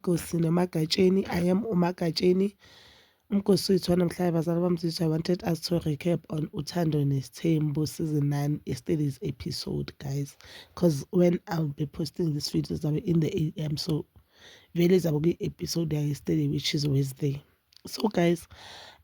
Nkosi namaGatsheni, I am uMaGatsheni. Umgosi wethu wanamhlanje bazali bamzizwa wanted us to recap on Uthando Nesthembu season 9 yesterday's episode guys because when I'll be posting this video zabe in the AM so vele zabe kwi-episode yesterday which is Wednesday. So guys,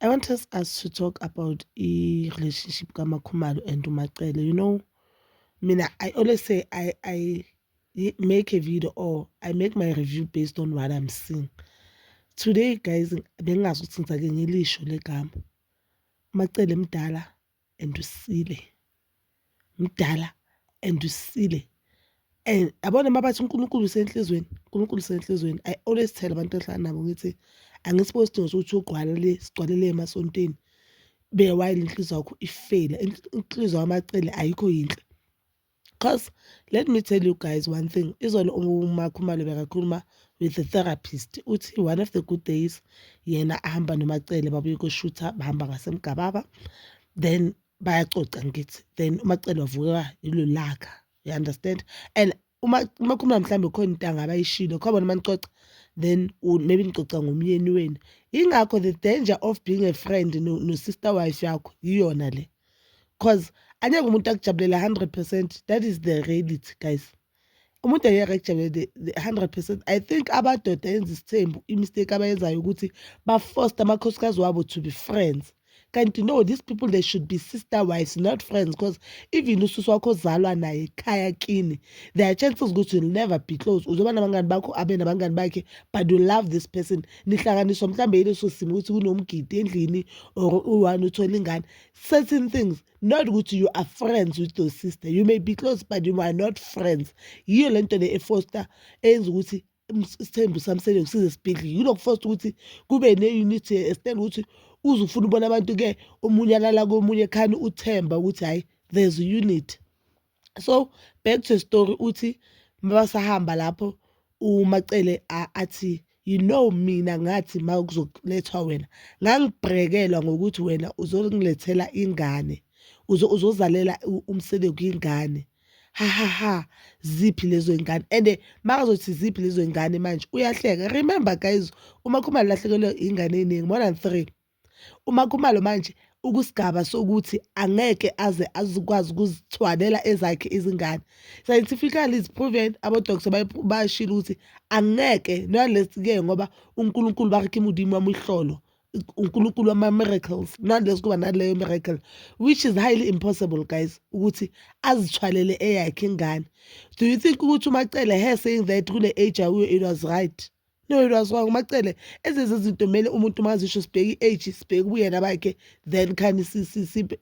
I want us, us to talk about the relationship kamakhumalo and umacele. You know, mina I always say I I make a video or I make my review based on what I'm seeing. Today guys bengingazi ukuthi ngizake ngilisho legama. Macele mdala and usile. Mdala and usile. And abona mabathi uNkulunkulu usenhlizweni, uNkulunkulu usenhlizweni. I always tell abantu engihlala nabo ngithi angisibo sidingo sokuthi ugqwalele sigcwalele emasontweni. Be while inhliziyo yakho ifela. Inhliziyo yamacele ayikho yinhle. Cause let me tell you guys one thing, izolo uMakhumalo bekakhuluma with the therapist uthi one of the good days yena ahamba noMacele babuye koshutha bahamba ngasemgababa then bayacoca ngithi then uMacele wavuka ilolaka you understand and uma uma khona mhlambe khona into angabayishilo khona bona manicoca then maybe nicoca ngomyeni wenu ingakho the danger of being a friend no, no sister wife yakho iyona le cause angeke umuntu akujabulela 100 percent that is the reality guys umuntu angeke akujabulela 100 percent i think abadoda enza isithembu imistake abayenzayo ukuthi bafosta amakhosikazi wabo to be friends kanti no these people they should be sister wives not friends because even ususu wakho ozalwa naye ekhaya kini there are chances ukuthi you'll never be close uzoba nabangani bakho abe nabangani bakhe but you love this person nihlanganiswa mhlawumbe yileso simo ukuthi kunomgidi endlini or u-one uthole ingane certain things not ukuthi you are friends with your sister you may be close but you are not friends yiyo le nto le efoster eyenza ukuthi isithembu sami selokhu size sibhidlike kunokufosta ukuthi kube ne-unity estand ukuthi uze ufuna ubona abantu-ke omunye alala komunye khani uthemba ukuthi hhayi there's unity so back to story uthi mabasahamba lapho umacele athi you know mina ngathi ma kuzolethwa wena ngangibrekelwa ngokuthi wena uzongilethela ingane uzozalela umsele kwingane ha ha ha ziphi lezo ingane and makazothi ziphi lezo ingane manje uyahleka remember guys uma khumalo lahlekelwe ingane eningi more than three Uma Khumalo manje ukusigaba sokuthi angeke aze azikwazi ukuzithwalela ezakhe izingane scientifically is proven abodokotha bashilo ukuthi angeke nalesi-ke ngoba unkulunkulu ba re ke modimo wa mohlolo unkulunkulu wama-miracles nalesi kuba naleyo miracle which is highly impossible guys ukuthi azithwalele eyakhe ingane do you think ukuthi umacele her saying that kule age akuyo it was right no lwazi wanga umacele ezenze izinto kumele umuntu uma azisho sibheke i-age sibheke ubuyena bakhe then khani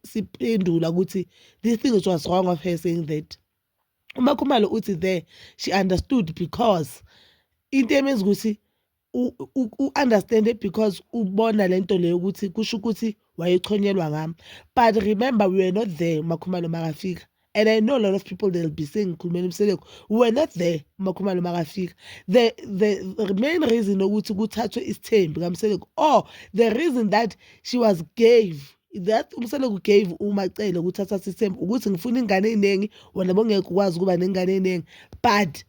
siphendula ukuthi this thing is was wrong of her saying that umakhumalo uthi there she understood because into emenza ukuthi u-understande because ubona le nto leyo ukuthi kusho ukuthi wayechonyelwa ngami but remember we were not there umakhumalo makafika and i know a lot of people they'll be saying ngikhulumela umseleku we were not there umakhumalo makafika the, the, the main reason ukuthi kuthathwe isithembi kamseleku or the reason that she was gave that umseleku gave umacele ukuthi athathe isithembi ukuthi ngifuna ingane eyiningi wena bongeke ukwazi ukuba nengane eyiningi but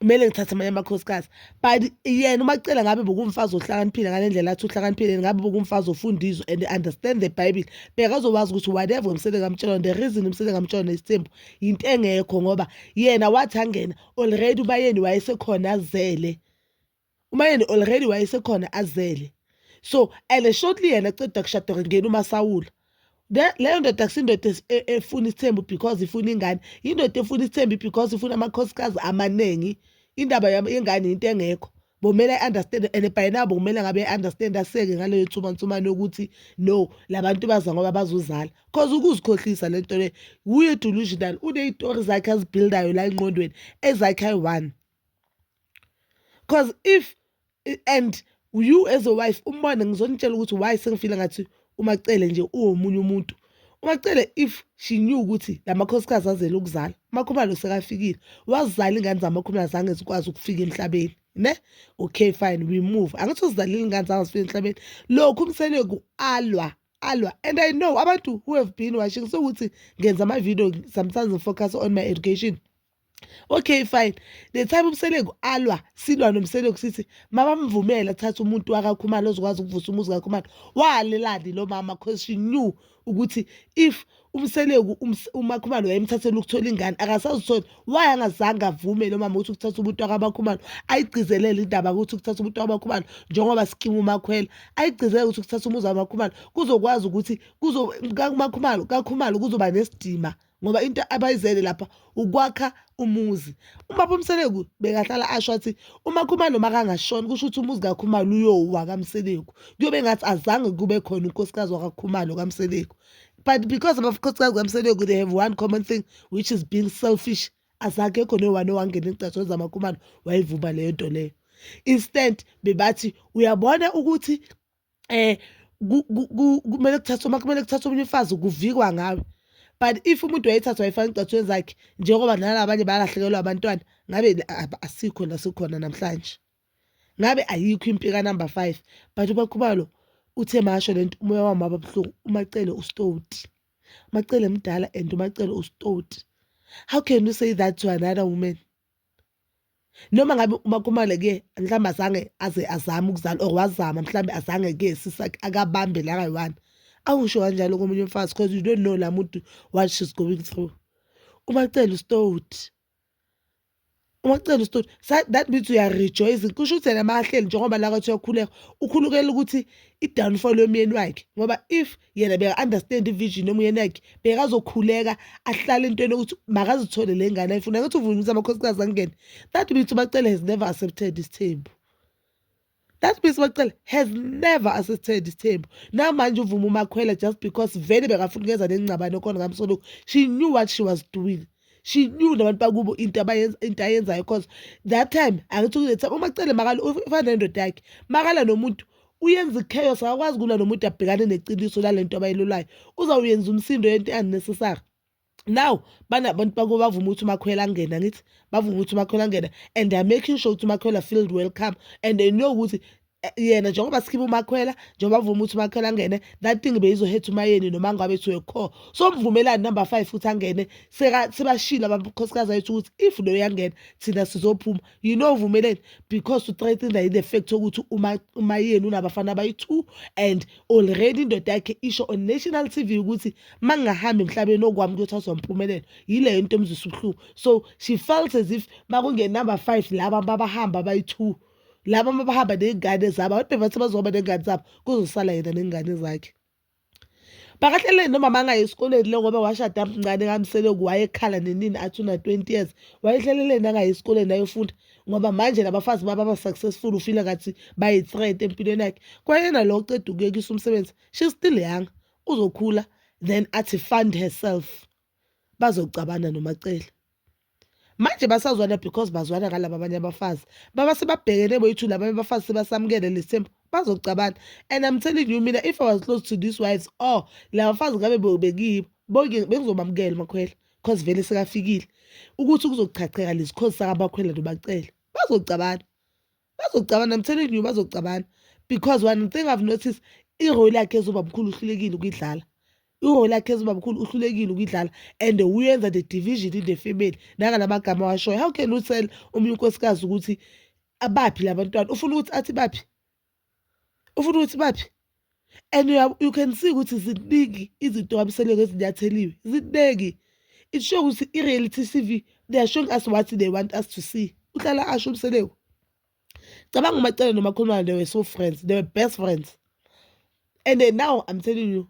kumele ngithathe amanye amakhosikazi but yena uma kucela ngabe bokumfazi ohlakaniphile ngale ndlela athi uhlakaniphile ngabe bokumfazi ofunda izwe and understand the bible bekazowazi ukuthi whatever umsele kamtshela the reason umsele kamtshela nesithembu yinto engekho ngoba yena wathi angena already ubayeni wayesekhona azele umayeni already wayesekhona azele so and shortly yena ceda kushada ngena umasawula leyo ndoda kusindoda e, efuna isithembu because ifuna ingane yindoda efuna isithembu because ifuna amakhosikazi amaningi indaba yengane yinto engekho bomele i-understand and by now bokumele ngabe i-understand aseke ngaleyo nsumansumane yokuthi no labantu baza ngoba bazozala cause ukuzikhohlisa le nto le wuye delusional uneyitori zakhe azibuildayo la engqondweni ezakhe ayi-one cause if and you as a wife umbone ngizonitshela ukuthi why sengifile ngathi umacele nje uwomunye umuntu umacele if she knew ukuthi la makhosikazi azele ukuzala umakhumalo sekafikile wazizala ingane zamakhumalo zange zikwazi ukufika emhlabeni ne okay fine we move angithi uzidlalile ingane zange zifike emhlabeni lokhu umseleku alwa alwa and i know abantu who have been watching so ukuthi ngenza ama-video sometimes ngifocus on my education okay fine the time umseleku alwa silwa nomseleku sithi mabamvumele athathe umuntu wakakhumalo ozokwazi ukuvusa umuzi kakhumalo walelani lo mama because she knew ukuthi if umseleku umakhumalo wayemthathela ukuthola ingane akasazithola why angazange avume lo mama ukuthi ukuthatha umuntu wakabakhumalo ayigcizelele indaba ukuthi ukuthatha umuntu wakabakhumalo njengoba sikimu umakhwela ayigcizelele ukuthi ukuthatha umuzi wamakhumalo kuzokwazi ukuthi kuzo kakhumalo kakhumalo kuzoba nesidima ngoba into abayizele lapha ukwakha umuzi ubaba umseleku bekahlala asho athi umakhumalo makangashoni kusho ukuthi umuzi kakhumalo uyowa kamseleku kuyobe ngathi azange kube khona unkosikazi wakakhumalo kamseleku but because abakhosikazi kamseleku they have one common thing which is being selfish azakekho nowani owangena igcatsho zamakhumalo wayivuma leyo nto leyo instant bebathi uyabona ukuthi eh kumele kuthathwe uma kumele kuthathwe omunye umfazi kuvikwa ngawe but if umuntu wayethatha wayifaka igcathweni zakhe njengoba nalabanye balahlekelwa abantwana ngabe asikho la sikhona namhlanje ngabe ayikho impika number five but ubakhubalo uthe masho le nto umoya wami waba buhlungu umacele ustoti umacele mdala and umacele ustoti how can you say that to another woman noma ngabe umakhumalo ke mhlawumbe azange aze azame ukuzala or wazama mhlawumbe azange ke sisakhe akabambe la kayi-one awusho kanjalo komunye umfazi because you don't know la muntu what she's going through umacela usitoti umacela usitoti that means uyarejoyce kusho ukuthi yena mahleli njengoba la kwathi uyakhuleka ukhulukela ukuthi i-downfall yomyeni wakhe ngoba if yena beka-understand ivision noma uyena yakhe bekazokhuleka ahlale entweni yokuthi makazithole le ngane ayifuna ngathi uvumise amakhosikazi angene that means ubacele has never accepted isithembu that means ubacele has never accepted isithembu namanje uvuma umakhwela just because vele bekafuna ukuyeza nengcabane khona ngamsoloku she knew what she was doing she knew nabantu bakubo into abayenza into ayenzayo because that time angithi kule time umacele makala ufana nendoda yakhe makala nomuntu uyenza ichaos akakwazi kulwa nomuntu abhekane neqiniso lalento abayilulayo uzawuyenza umsindo yento unnecessary now banabantu bakubo bavuma ukuthi umakhwela angena ngithi bavuma ukuthi umakhwela angena and they're making sure ukuthi umakhwela feel welcome and they know ukuthi Eh, yena njengoba sikhipha umakhwela njengoba vuma ukuthi umakhwela angene that thing beyizohetha umayeni noma ngabe thiwe kho so mvumelani number five futhi angene sebashile abakhosikazi ayethu ukuthi if lo yangena thina sizophuma you know uvumeleni because uthreaten the, the fact ukuthi umayeni unabafana abayi-two and already indoda yakhe isho on national t v ukuthi ma ngingahambi emhlabeni okwami ukuthi azompumelelo yileyo into emzisa ubuhlungu so she felt as if ma kungenumber five laba babahamba abayi-two laba uma bahamba ney'ngane zabo abantu bebathi bazohamba ney'ngane zabo kuzosala yena ney'ngane zakhe bakahlele nomama angaye esikoleni lo ngoba washada mncane kamsele wayekhala nenini athi una-twenty years wayehleleleni angaye esikoleni ayofunda ngoba manje labafazi bababa-successful ufile ngathi bayi-threat empilweni yakhe kwayena lo oceda ukuyekisa umsebenzi she still young uzokhula then athi fund herself bazocabana nomacele manje basazwana because bazwana ngalaba abanye abafazi baba sebabhekene boyithu laba abafazi sebasamukele lesithembu bazocabana and i'm telling you mina if i was close to these wives or oh, laba bafazi ngabe bekibo bonke bengizobamukela makhwela because vele sekafikile ukuthi kuzochacheka lezi cause sakabakhwela nobacele bazocabana bazocabana i'm telling you bazocabana because one thing i've noticed irole yakhe ezoba mkhulu uhlulekile ukuyidlala irole yakhe ezoba mkhulu uhlulekile ukuyidlala and uyenza the division in the family nangala magama washoyo how can you tell omunye unkosikazi ukuthi abaphi labantwana ufuna ukuthi athi baphi ufuna ukuthi baphi and you can see ukuthi ziningi izinto abisele ngezinyatheliwe ziningi it show ukuthi i-reality tv they are showing us what they want us to see uhlala asho umseleku cabanga umacele nomakhulumane they were so friends they were best friends and then now i'm telling you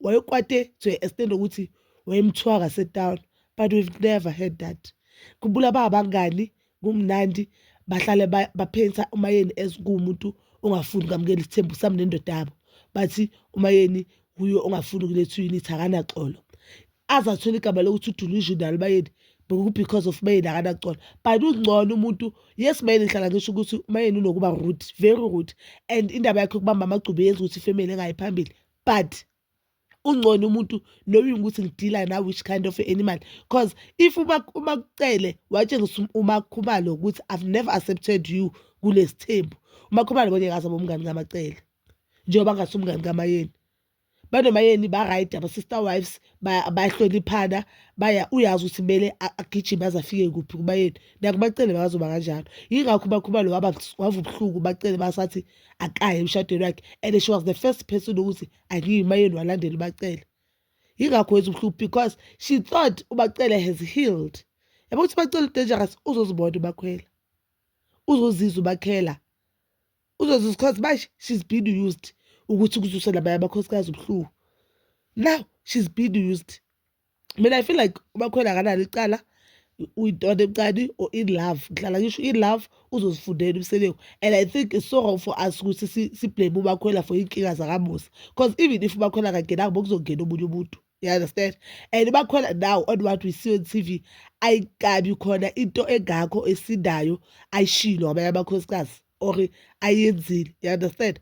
wayekwate to a extent ukuthi wayemthiwa kasetown but we've never heard that khumbula babangani kumnandi bahlale baphensa umayeni as kuwumuntu ongafuni ukamukela isithembu sami nendoda yabo bathi umayeni wuye ongafuni ukuletha uyinithi akanaxolo aze athole igama lokuthi udelusional umayeni because of mayeni akanaxolo but ungcono umuntu yes mayeni ngihlala ngisho ukuthi umayeni unokuba rude very rude and indaba yakhe ukubamba amagcubu yenza ukuthi ifemeli engayi phambili but ungcono umuntu knowing ukuthi ngidila na which kind of animal cause if umakucele watshengisa umakhumalo ukuthi i've never accepted you kulesithembu umakhumalo bonye ngaze bomngani kamacele njengoba ngase umngani kamayeni banomayeni ba-right ama-sister wives bayahloniphana baya uyazi ukuthi kumele agijime aze afike kuphi kubayeni nakumacele bakazoba kanjalo yingakho umakhumalo waba ubuhlungu bacele basathi akaye emshadweni wakhe and she was the first person ukuthi angiyimayeni walandela ubacele yingakho wenza ubuhlungu because she thought ubacele has healed yabo ukuthi ubacele udangerous uzozibona ubakhwela uzozizwa ubakhela uzozizwa because manje she's been used ukuthi kuzuse nabanye amakhosikazi ubuhlungu now she's been used mina i feel like ubakhwela akanalo icala uyintoda ebucane or in love ngihlala ngisho in love uzozifundela umsebenzi and i think it's so wrong for us ukuthi siblame ubakhwela for iy'nkinga zakamusa because even if ubakhwela kangenanga bokuzongena omunye umuntu you understand and ubakhwela now on what we see on t v ayikabi khona into engakho esindayo ayishilo abanye amakhosikazi or ayenzile you understand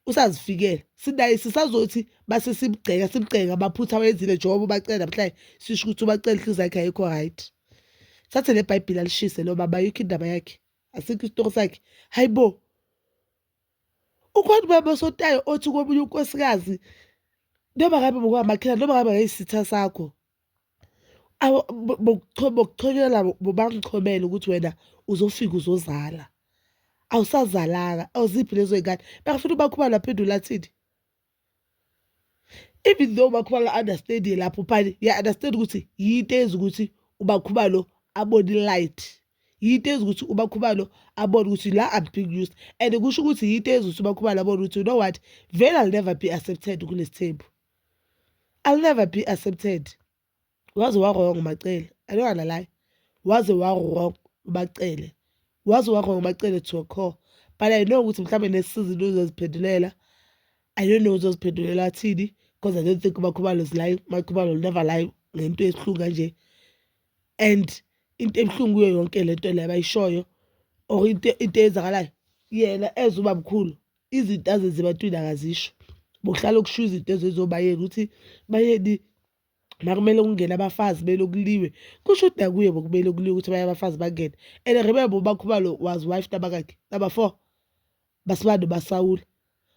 usazifikela sinaye sisazothi base simgceka simgceka amaphutha awenzile njengoba ubacela namhlanje sisho ukuthi ubacela inhliziyo yakhe ayikho right thathe le bhayibhile alishise lo baba ayikho indaba yakhe asikho isitoko sakhe hayi bo ukhona ubaba osotayo othi komunye unkosikazi noma ngabe ngokwamakhela noma ngabe ngayisitha sakho bokuchobela bobangichobela ukuthi wena uzofika uzozala awusazalanga awuziphi lezo y'ngane bengafuna ubakhubala aphendula athini even though ubakhubala understandie lapho phani ya-understand ukuthi yinto eyenza ukuthi ubakhubalo abone i-light yinto eyenza ukuthi ubakhubalo abone ukuthi la I'm being used and kusho ukuthi yinto eyenza ukuthi ubakhubalo abone ukuthi you know what vele I'll never be accepted kulesi thembu I'll never be accepted waze warong macele i don't wanna lie waze warong ubacele waze warong ubacele to a core but i know ukuthi mhlawumbe nesizini uzoziphendulela i don't know uzoziphendulela athini because i don't think umakhubalo is lying umakhubalo will never lie ngento esihlungu kanje and into ebuhlungu kuyo yonke le nto le abayishoyo or into into eyenzakalayo yena ezuba mkhulu izinto azenza ebantwini akazisho bokuhlala okusho izinto ezezobayeka ukuthi bayeni nakumele kungene abafazi belokuliwe kusho ukuthi nakuye bokumele kuliwe ukuthi abanye abafazi bangene and remember ubakhubalo was wife nabakakhe number four basibani basawula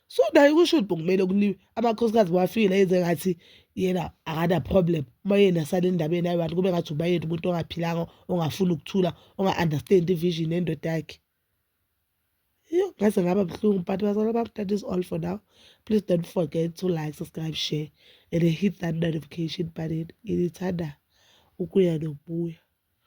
so naye kusho ukuthi bokumele kuliwe amakhosikazi bawafikile yenze ngathi yena akana-problem uma yena sale ndabeni ayi-one kube ngathi ubayeni umuntu ongaphilanga ongafuni ukuthula onga-understand ivision endoda yakhe Yho, ngaze ngaba buhlungu but bazalwa bam that is all for now please don't forget to like subscribe share and hit that notification button ngithanda ukuya nokubuya